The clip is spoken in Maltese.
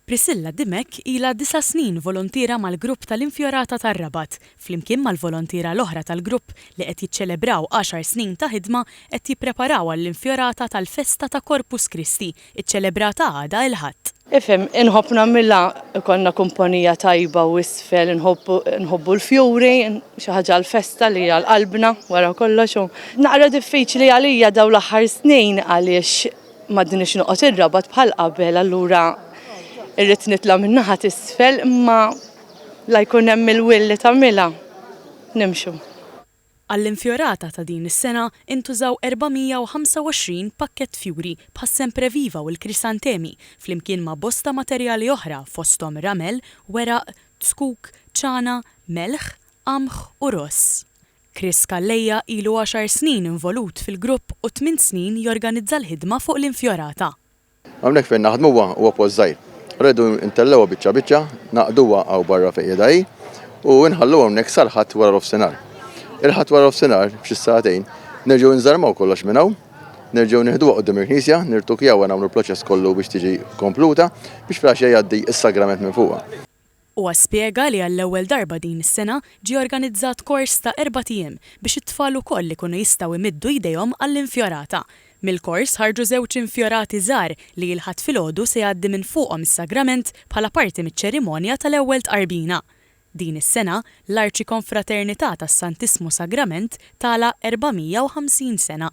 Priscilla Dimech ilha disa' snin volontiera mal-grupp tal-Infjorata tar-Rabat, flimkien mal-volontiera l-oħra tal-grupp li qed jiċċelebraw għaxar snin ta' ħidma qed jippreparaw għall-Infjorata tal-Festa ta' Corpus Christi, iċċelebrata għada il-Ħadd. Ifhem, inħobb nagħmilha, ikollna kumpanija tajba u isfel inħobbu nħobbu l-fjuri, xi ħaġa għall-festa li hija għal qalbna wara kollox u naqra diffiċli għalija dawn l-aħħar snin għaliex M'għadnix noqgħod ir-Rabat bħal qabel allura irrid nitla' min-naħa t'isfel imma la jkun hemm il-will li tagħmilha. Nimxu. Għall-Infjorata ta' din is-sena intużaw 425 pakkett fjuri bħas-sempreviva u l-krisantemi flimkien ma' bosta materjali oħra fosthom ramel, weraq, zkuk, ċana, melħ, qamħ u ross. Chris Calleja ilu għaxar snin involut fil-grupp u tmint snin jorganizza l-ħidma fuq l-infjorata. Hawnhekk fejn naħdmu huwa huwa post żgħir. Rridu ntellgħuha biċċa biċċa, nagħqduha hawn barra fejn qiegħda hi u nħalluha hawnhekk sal-Ħadd wara nofsinhar. Il-Ħadd wara nofsinhar, f'xi sagħtejn, nerġgħu nżarmaw kollox minn hawn, nerġgħu nieħduha quddiem il-knisja, nirtukjawha nagħmlu l-proċess kollu biex tiġi kompluta biex filgħaxija jgħaddi s-sagrament minn fuqha. Huwa spjega li għall-ewwel darba din is-sena ġie organizzat kors ta' erbat ijiem biex it-tfal ukoll ikunu jistgħu imiddu jdejhom għall-infjorata. Mill-kors ħarġu żewġ infjorati żgħar li il-Ħadd filgħodu se jgħaddi minn fuqhom is-sagrament bħala parti miċ-ċerimonja tal-ewwel tqarbina. Din is-sena l-Arċikonfraternità tas-Santissmu Sagrament tagħlaq 450 sena.